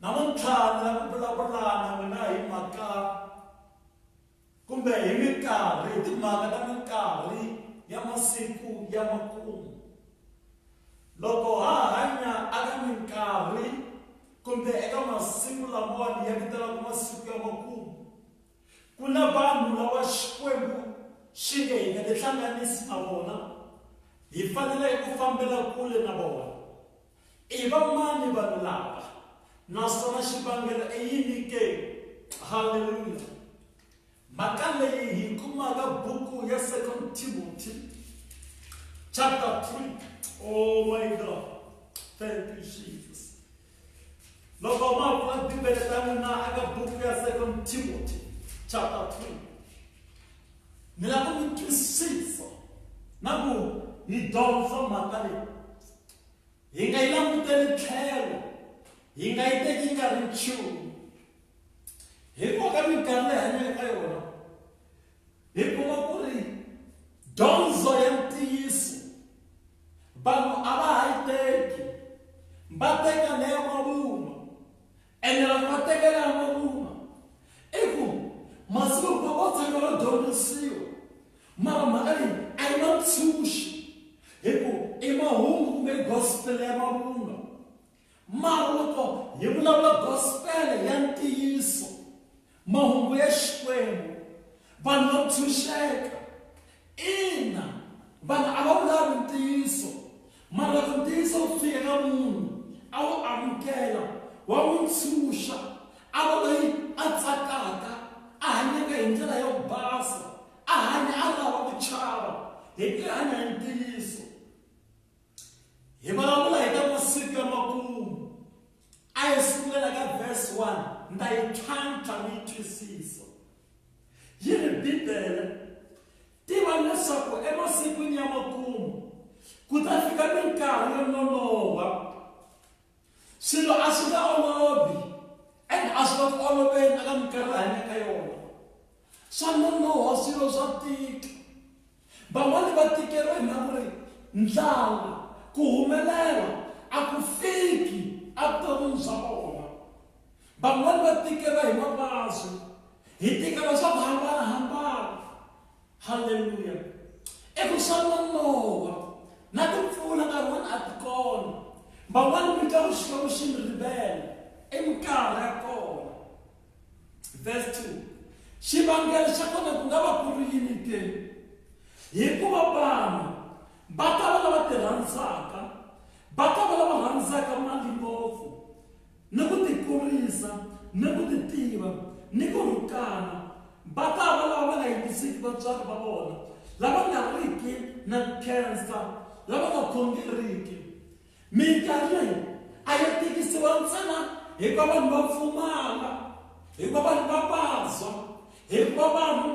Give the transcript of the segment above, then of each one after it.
namuntlha ni lava ku vulavula na n'wina hi mhaka kumbe hi minkarhi hi timhaka ta minkarhi ya masiku ya makumu loko ha hanya aka minkarhi kumbe eka masiku lamawani ya vitanaka masiku ya makumu ku na vanhu lava xikwembu xi nge hi nga tihlanganisi na vona hi fanele ku fambela kule na vona I va mani vanhu lava, naswona xivangelo i yini ke? Haleluya! Mhaka leyi hi kumaka buku ya Second Timothy chapter 3. Oh my God! Thank you, Jesus. Loko ma pfula Bibele ta n'wina eka buku ya Second Timothy chapter 3. Ni lava ku mi twisisa na ku hi dyondza mhaka leyi. Hi nga yi languteli tlhelo, hi nga yi teki yi nga ri nchumu. Hikuva ka minkarhi leyi hanyaka ka yona, hi kuma ku ri dyondzo ya ntiyiso vanhu a va ha yi teki, va teka leya mavunwa. ene loko va tekela va kuma i ku masiku hinkwawo va tshama va dyondzisiwa mara mhaka leyi a yi na ntshunxi hi ku i mahungu kumbe i gospel ya mavunwa mara loko hi vulavula gospel ya ntiyiso Mahungu ya Xikwembu, vanhu va ntshunxeka. Ina, vanhu a va wu lavi ntiyiso, mara loko ntiyiso wu fika ka munhu, a wu amukela, wa n'wi ntshunxa, a va loyi a tsakaka, a hanyaka hi ndlela yo basa, a hanya a ri hava ku chava, hi ku ya hanya hi ntiyiso. hi vulavula hi ta masiku ya makumu a hi sungula ka verse 1 ni ta yi tlhantlha ni yi twisisa yi ri bibele tiva leswaku emasikwini ya makumu ku ta fika minkarhi yo nonoha swilo a swi nga olovi and a swi nga ku oloveni eka minkarhi hanya ka yona swa nonoha swilo swa tika van'wani va tikeriwa hi mhaka ri ndlala ku humelela a ku fiki evuton'wini bya vona van'wani va tikeriwa hi mavabyi hi tikeriwa swa ku hambanahambana halleluya eku xava mowa na timpfula nkarhi wani a ti kona van'wani mi twa xikwembu xi mi rivela i minkarhi ya kona verse 2 xivangelo xa kona ku nga va ku ri yini ke hikuva vanhu va ta va lava ti rhandzaka va ta va lava rhandzaka mali ngopfu ni ku tikurisa, ni ku titiva, ni ku rhukana, va ta va lava va nga yingisiki vatswari va vona, lava nga riki na khensa, lava nga khongeriki. Minkarhi leyi a yi tikisiwa ntsena hikuva vanhu va pfumala, hikuva vanhu va vabya, hikuva vanhu.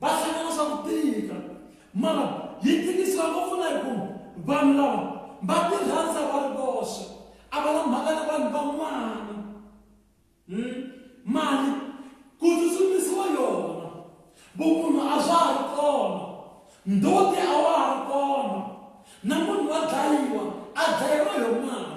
va hlangana swa ku tika mara yi tikisiwa ngopfu na hi ku vanhu lava va ti rhandza va ri voxe a va na mhaka na vanhu van'wana hmm? mali ku tsutsumisiwa yona vumunhu a bya ha ri kona ndote a wa ha ri kona na munhu wa dlayiwa a dlayiwa yo mali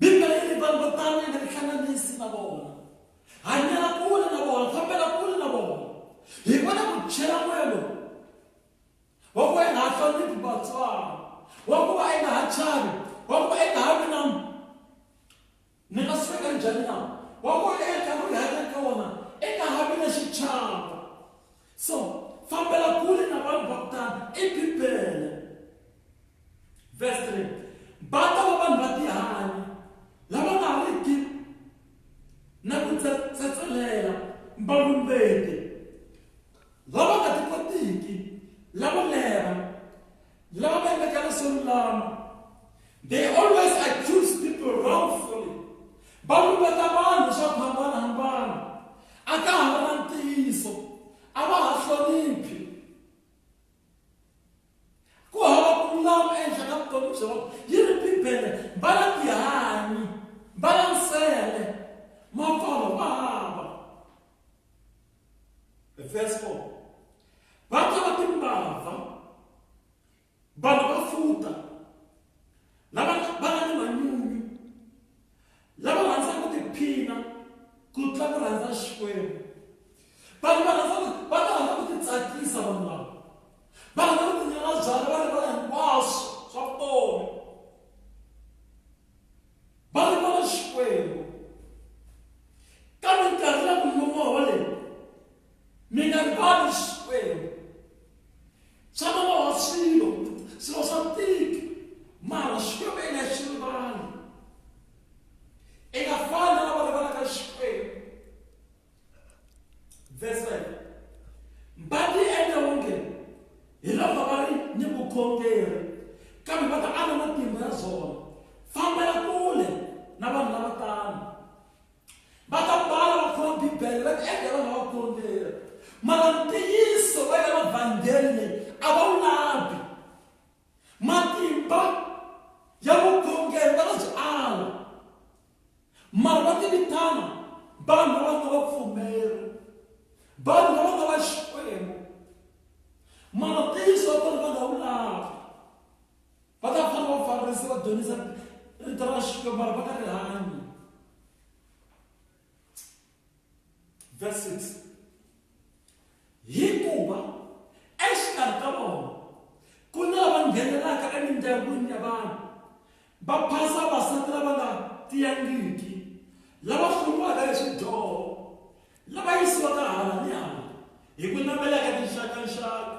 bibele yi ri vanhu vo tano yi nga tihlanganisi na vona hanyela kule na vona fambela kule na vona hi vona ku chela moya lowu wa ku va yi nga ha hloniphi vatswari wa ku va yi nga ha chavi wa ku va yi nga ha vi na ni nga swi veka njhani na wa ku va eka nkarhi ri hanya ka wona i nga ha vi na xichava so fambela kule na vanhu va ku tani i bibele Verse 3. Va ta va vanhu va tihanyi lava nga riki na ku tsetselela mbalumbeti lava nga ti kotiki lavo lera lava va endleka leswo lulama they always accuse people wrongfully va lumbeta vanhu swa ku hambanahambana a ka ha va na ntiyiso a va ha hloniphi ku hava ku lulama ehenhla ka vutomi bya vona yi ri bibele mbala tihanyi mbala nsele mapfalo ma hava verse 4 va ta va timbava vanhu va futa lava va nga ni manyunyu lava rhandzaka ku tiphina ku tlula ku rhandza xikwembu vanhu va rhandza va ta rhandza ku titsakisa vanhu lava va rhandza ku tinyala byala va rivala hinkwaswo swa vutomi va rivala xikwembu kambe nkarhi ya ku nyumoho leyi mi nga rivali xikwembu swa nonoha swilo swilo swa tika mara xikwembu i nga xi rivali i nga fani na lava rivalaka xikwembu verse 5 mbati yi endla onge hi loko va ri ni vukhongeri kambe va ta ala matimba ya zona fambela kule na vanhu lava tano va ta bala va khoma bibele va tiendla vana va vukorhokeri mara ntiyiso va ya mavhangeli leyi a va wu lavi matimba ya vukhongeri va nga byi ala mara va tivitana vanhu lava nga vapfumeri vanhu lava nga va xikwembu mara ntiyiso wa kona va nga wu lavi va ta fana vafarisi va dyondzisa rito ra xilo mara va ka rihanyo verse 6 hikuva exikarhi ka vona ku na lava nghenelaka emindyangwini ya vanhu va phasa vasati lava nga tiyangiki lava hlumiwaka hi swidyoho lava yisiwaka hala ni hala hi ku navelaka tinxakanxaka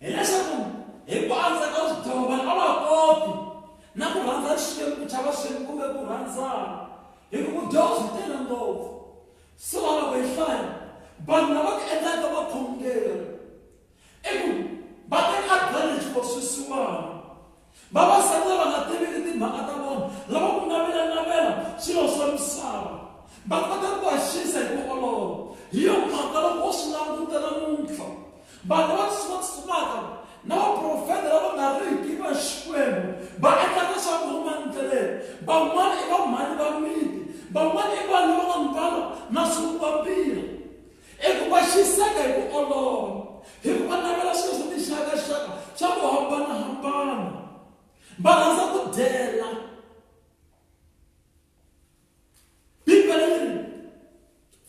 hileswaku hi ku andza ka swidyoho vanhu a va koti na ku rhandza xikwembu ku chava xikwembu kumbe ku rhandzana hi ku vudyoho byi tele ngopfu so loko hi hlaya vanhu lava ku endlaka vakhongeri i ku va teka advantage ko swisiwana vavasati lava nga tiviki timhaka ta vona lava ku navelanavela swilo swa misava va kota ku haxisa hi ku olova hi yo mhaka loko wo swi languta namuntlha vanhu va tsutsumaka na vaprofeta lava nga riki va xikwembu va endla leswaku huma ndleleni van'wana i vamhani va miti van'wana i vanhu lava nga mbala na swivuka biha eku va xiseka hi ku olova hi ku va navela swilo swa tinxakaxaka swa ku hambanahambana va rhandza ku dyela bibele ri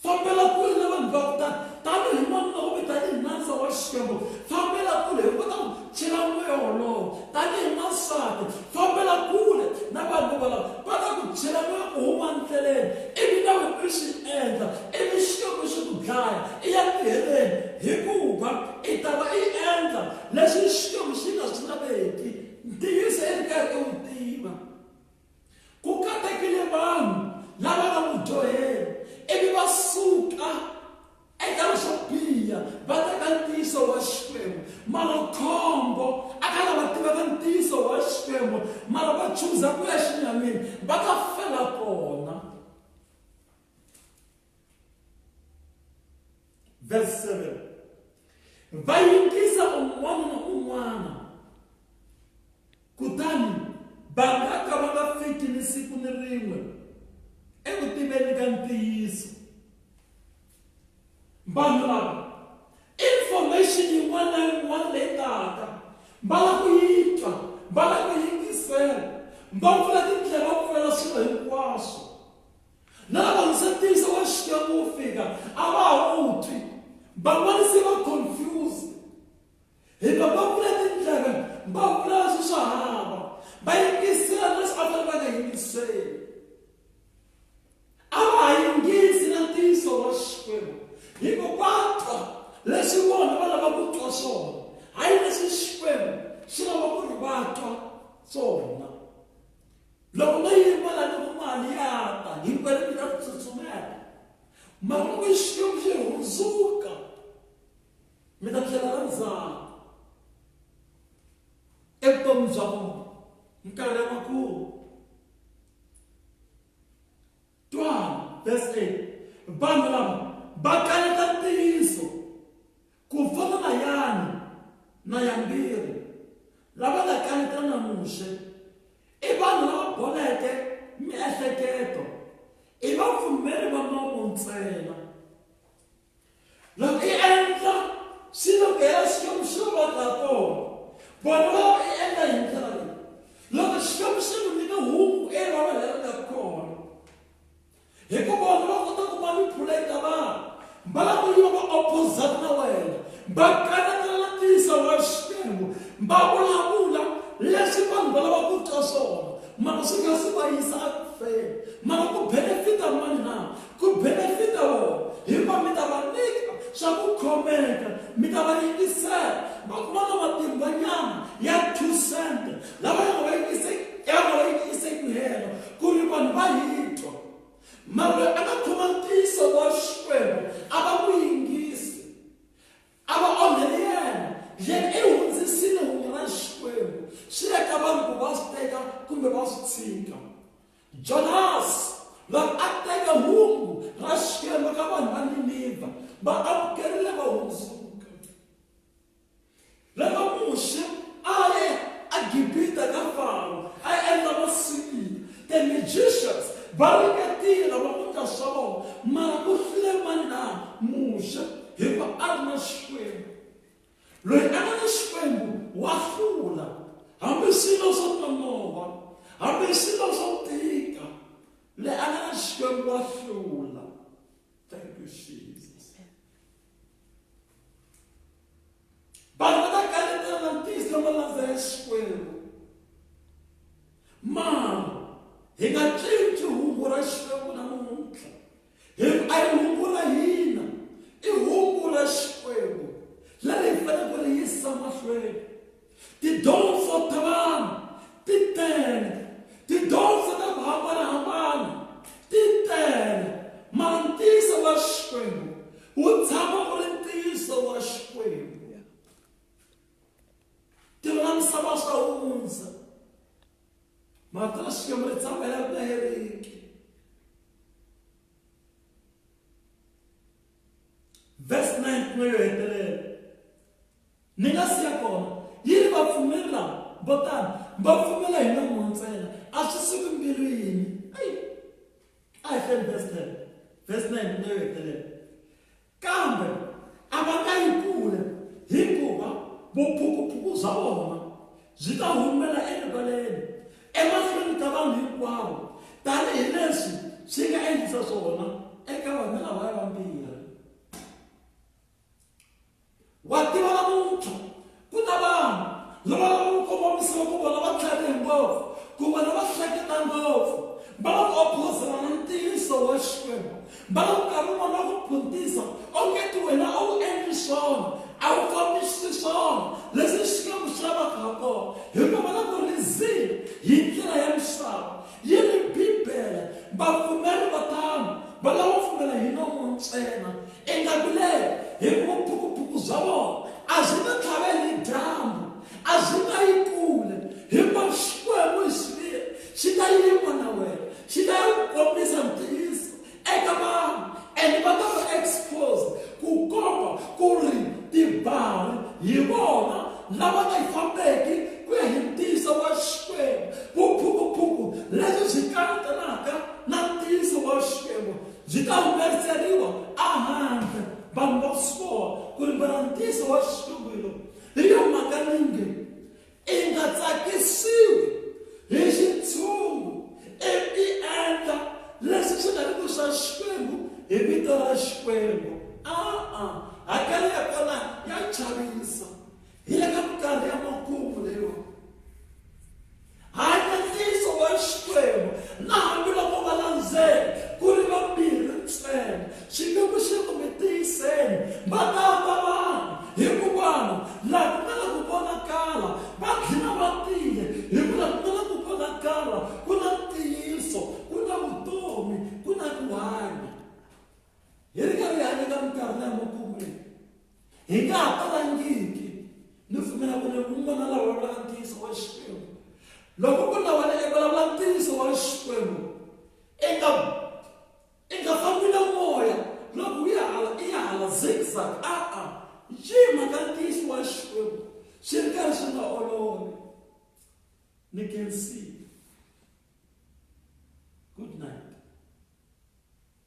fambela kule na vanhu va ku tani tanihi n'wanuna kumbe tanihi nandza wa xikwembu fambela kule hi kota ku Chela moya wolowo tanihi n'wansati, fambela kule na vanhu volavo, va ta ku chela moya u huma ndleleni, ivi na wena u swi endla, ivi Xikwembu xi ku dlaya, i ya ku heleni, hikuva i ta va i endla leswi Xikwembu xi nga swi laveki. Ntiyiso i ri karhi i wu tiva. Ku katekile vanhu lava nga mudyoheri ivi va suka. eka swo biha va teka ntiyiso wa xikwembu mara khombo a ka lava tivaka ntiyiso wa xikwembu mara va chuza ku ya xinyamini va ta fela kona verse 7 va yingisa un'wana na un'wana Kutani va nga ka va nga fiki ni siku ni rin'we eku tiveni ka ntiyiso. Vanhu lava information yin'wana na yin'wana leyi taka va la ku yi twa va la ku yingisela va pfula tindlela va pfulela swilo hinkwaswo na lava nsetiyiso wa xikwembu wu fika a va ha wu twi van'wana se va confused hikuva va vula tindlela va vula leswi swa hava va yingisela leswi a va va nga yingiseli a va ha yingisi na ntiyiso wa xikwembu hikuva va twa leswi vona va lava ku twa swona hayi leswi xikwembu xi lava ku ri va twa swona loko no yima la loko mali ya ta hinkwenu mi ta tsutsumela mara loko xikwembu xi hundzuka mi ta tlhela va tsaka evutomi bya vona nkarhi wa ku twa verse 8 vanhu lava va kaneta ntiyiso ku fana na yani na yambirhi lava nga kaneta na muxe i vanhu lava boleke miehleketo i vapfumeri va nomo ntsena loko i endla swilo ku hela xikwembu xi va va kona vona va va i endla hi ndlela leyi loko xikwembu xi ku nyika hungu e va va hela ka kona hikuva vona va kota ku va ni phula eka vanhu va lava ku yiva va opposite na wena va kanakana na tiyisa wa xikwembu va vulavula leswi vanhu va lava ku twa swona mara swi nga swi va yisa akufeni mara ku benefita mani na Ku benefita vona, hikuva mi ta va nyika swa ku khomeka, mi ta va yingisela. Va ku vona matimbanyana ya two cent lava ya nga va yingise ya nga va yingise ku hela ku ri vanhu va hi twa. Mara loyi a nga khoma ntiyiso wa Xikwembu a va n'wi yingisi, a va onheli yena, yena i hundzisile hungu ra Xikwembu swi ya ka vanhu ku va swi teka kumbe va swi tshika. Jonasi, loyi a teke hungu ra Xikwembu ka vanhu va Ninivha, va amukerile va hundzuka. Loko Muxe a ye eGibita ka Faro a endla masipila, the magicians va ringetile va endla swa vona, mara ku hlule mani na? Muxe, hikuva a ri na Xikwembu. loyi a nga ni xikwembu wa hlula hambi swilo swo nonova hambi swilo swo tika le a nga ni xikwembu wa hlula thank you jesus vanhu va ta kanetela na ntiyiso lama landza ya xikwembu mara hi nga cinci hungu ra xikwembu namuntlha Hi ku a ri hungu ra hina, i hungu ra Xikwembu leri hi fanele ku ri yisa mahlweni. Tidyondzo ta vanhu ti tele, tidyondzo ta ku hambanahambana ti tele, mara ntiyiso wa Xikwembu wu tshama u ri ntiyiso wa Xikwembu. Tilo na misava swa hundza. Matrasio me tsamaya ka ereke. Verse 9 mo yo hetelela. Ni nga siya kona. Yi ri va pfumeri lava vo tani va pfumela hi nomo ntsena a swi suki mbilwini. Ai. A hi hleni verse 10. Verse 9 mo yo hetelela. Kambe a va ta yi kule, hikuva vuphukuphuku bya vona byi ta humela erivaleni emahlweni ka vanhu hinkwavo, tanihi leswi swi nga endlisa swona eka vanhu lavaya vambirhi. Wa tiva namuntlha, ku na vanhu lava lavaka ku kongomisa loko vona va tlharihe ngopfu kumbe lava hleketa ngopfu, va lava ku ophozela na ntiyiso wa Xikwembu. Va lava ku nkarhi wun'wana va ku phuntisa ongeti wena a wu endli swona, a wu fambisi swona leswi Xikwembu xi lavaka ha kona, hikuva va lava ku rhizila hi ndlela ya misava. Yi ri Bibele, vapfumeri vo tano va lava pfumela hi nomu ntsena, ingaku leri, hi ku vuphukuphuku bya vona a byi nga tlhaveli hi dyambu, a byi nga yi kule, hinkwaswo Xikwembu hi xiviri xi ta yima na wena, xi ta ya ku kombisa ntiyiso eka vanhu and va ta va exposed ku komba ku ri tibari hi vona lava nga yi fambeki ku ya hi ntiyiso wa xikwembu vuphukuphuku lebyi byi kanetanaka na ntiyiso wa xikwembu byi ta humeseriwa ehandle vanhu va swi vona ku ri varhantiso wa xikwembu hi lowu hi yo mhaka ninge i nga tsakisiwi hi xitshungu ivi i endla leswi swi nga ri ku swa xikwembu hi vito ra xikwembu a-a hakelo ya kona ya chavisa hi le ka minkarhi ya makumu leyiwani hanya ntiyiso wa xikwembu na hambiloko va landzela ku ri vambirhi ntsena Xikwembu xi ku mi tiyiseni va ta fa vanhu hikuva laha ku nga na ku vonakala va tlhela va tile hikuva ku nga na ku vonakala ku na ntiyiso ku na vutomi ku na ku hanya hi ri karhi hi hanya ka minkarhi leya makumu leyi hi nga ha talangiki ni pfumela ku ri un'wana la vulavulaka ntiyiso wa xikwembu loko ku na wena i vulavula ntiyiso wa xikwembu eka I nga fambi na moya loko u ya hala i ya hala zigzag a-a ncini mhaka ntiyiso wa Xikwembu swi ri karhi swi nga olovi ni can see good night